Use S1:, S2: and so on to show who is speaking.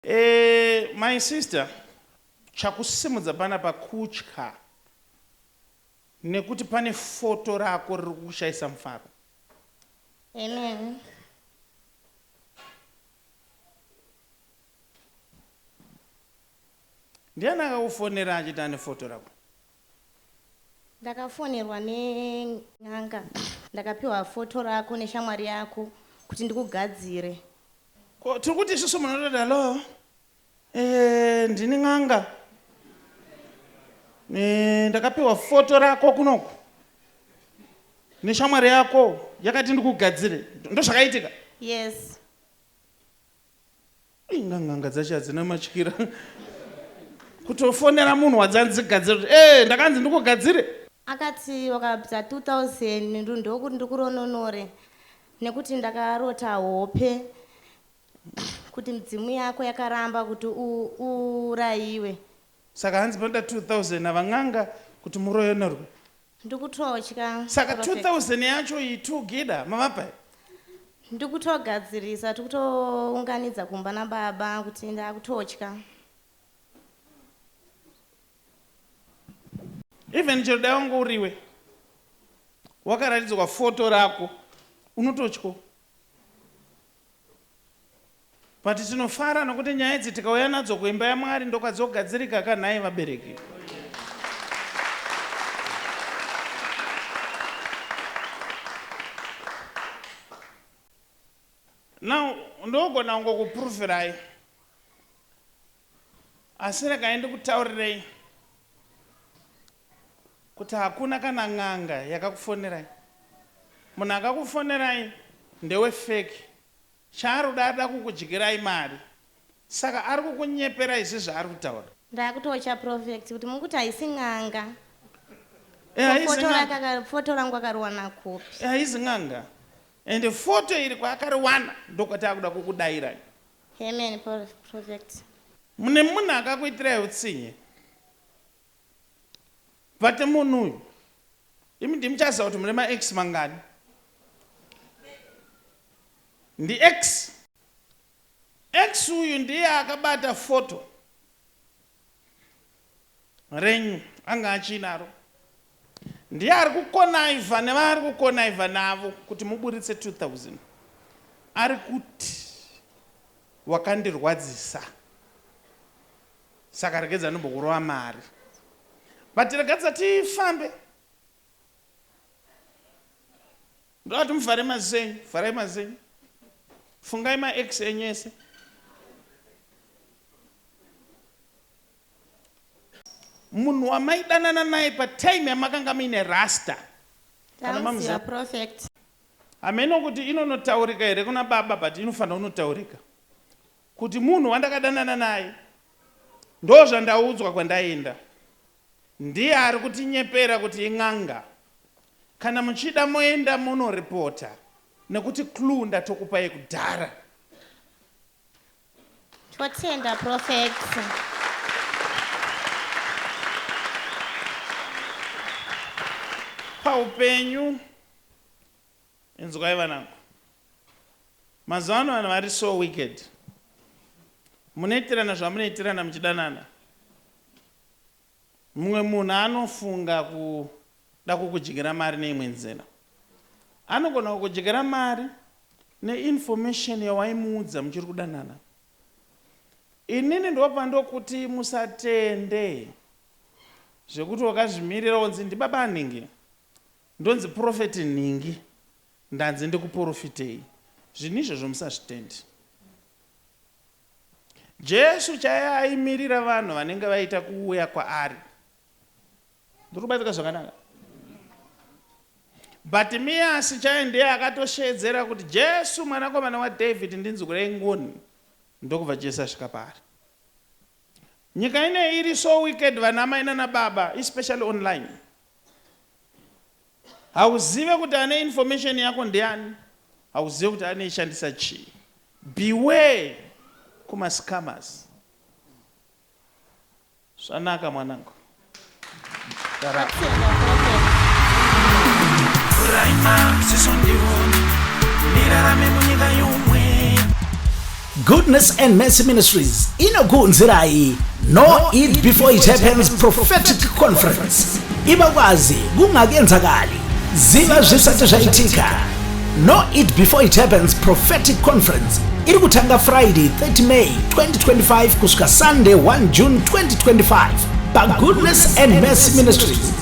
S1: Eeh my sister chakusimudza panapa kutya nekuti pane foto rako riri kukushaisa mufaro.
S2: Amen.
S1: Ndiani akakufonera achiti ane foto rako?
S2: Ndakafonerwa ne n'anga ndakapiwa photo rako neshamwari yako kuti ndikugadzire. Ko
S1: tiri kuti isusu munotoda lo eh ndini n'anga eh ndakapiwa photo rako kunoku neshamwari yako yakati ndikugadzire ndozvakaitika? Yes. Inga n'anga dzacho hadzina matyira. Kutofonera munhu wadzanzi gadzire kuti eh ndakanzi ndikugadzire. Akati
S2: wakabvisa 2000 ndokuti ndikurondonore nekuti ndakarota hope kuti midzimu yako yakaramba kuti uurayiwe. Saka
S1: hanzi panoda 2000 ava n'anga kuti muroyonorwe. ndikutotya
S2: saka
S1: 2000 yacho iyi two gida mavapa ndikutogadzirisa
S2: tikutounganidza kumba nababa kuti ndakutotya
S1: even chero dai wanga uriwe wakaratidzwa foto rako unototyo But tinofara nokuti nyaya idzi tikauya nadzo kuimba yaMwari ndokwadzogadzirika ka nhai vabereki. Now ndogona kungokupurufirai asi regai ndikutaurirei kuti hakuna kana n'anga yakakufonerai. Munhu akakufonerai ndewe fake Chaanoda arikuda kukudyirai mari saka arikukunyepera izvi zvaari kutaura. Ndakutocha prophet
S2: kuti mukuti haisi n'anga Eh ko haizi photo n'anga. rake aka photo rangu akariwana kupi. Eh haizi n'anga.
S1: Ende photo iri kwaakariwana ndokwati akuda kukudairai. Amen
S2: pro- prophet. Mune
S1: munhu akakuitirai hutsinye. But munhu uyu imi ndimuchaziva kuti mune ma ex mangani. Ndi ex. Ex uyu ndiye akabata photo renyu anga achiinaro. Ndiye ari kukonaiva nevaari kukonaiva navo kuti muburitse 2000. Ari kuti wakandirwadzisa saka regedza ndombokurova mari but regadza tifambe. Ndovati muvhare maziso enyu, vharai maziso enyu. Fungai maex enyu ese. Munhu wamaidanana naye patime yamakanga muine rasta. Kana mamuziva.
S2: Prophet. Hameno
S1: kuti inonotaurika here kuna baba but inofanira kunotaurika. Kuti munhu wandakadanana naye ndozvandaudzwa kwandaenda. Ndiye ari kutinyepera kuti in'anga. Kana muchida moenda mono reporter nekuti clue ndatokupai kudhara.
S2: Totenda prophet.
S1: paupenyu inzwai vanangu mazuva ano vanhu vari so wicked munoitirana zvamunoitirana muchidanana Mumwe munhu anofunga kuda kukudyira mari neimwe nzira. Anogona kukudyira mari neinformation yawaimuudza muchiri kudanana. Inini ndobva ndokuti musatende zvekuti wakazvimirira wonzi ndibaba anhingi, ndonzi prophet nhingi, ndanzi ndikuporofitei. Zvinhu izvozvo musazvitende. Jesu chaiye aimirira vanhu vanenge vaita kuuya kwaari. Ndiri kubatsika zvakanaka? Bartimeus chaiye ndiye akatosheedzera kuti Jesu mwanakomana waDavid ndinzwirei ngoni ndokubva Jesu asvika paari. Nyika ine iri so wicked vanamai nanababa especially online. Hauzive kuti ane information yako ndiani, hauzive kuti anoishandisa chii. Beware kuma scammers. Zvanaka mwanangu.
S3: Vhurai maziso ndione ndirarame munyika youmwe Goodness and Mercy Ministries inokuunzirai No Eat Before It Happens Prophetic Conference iva kwazi kungakenzakali ziva zvisati zvaitika No Eat Before It Happens Prophetic Conference iri kutanga Friday 30 May 2025 kusvika Sunday 1 June 2025 paGoodness and Mercy Ministries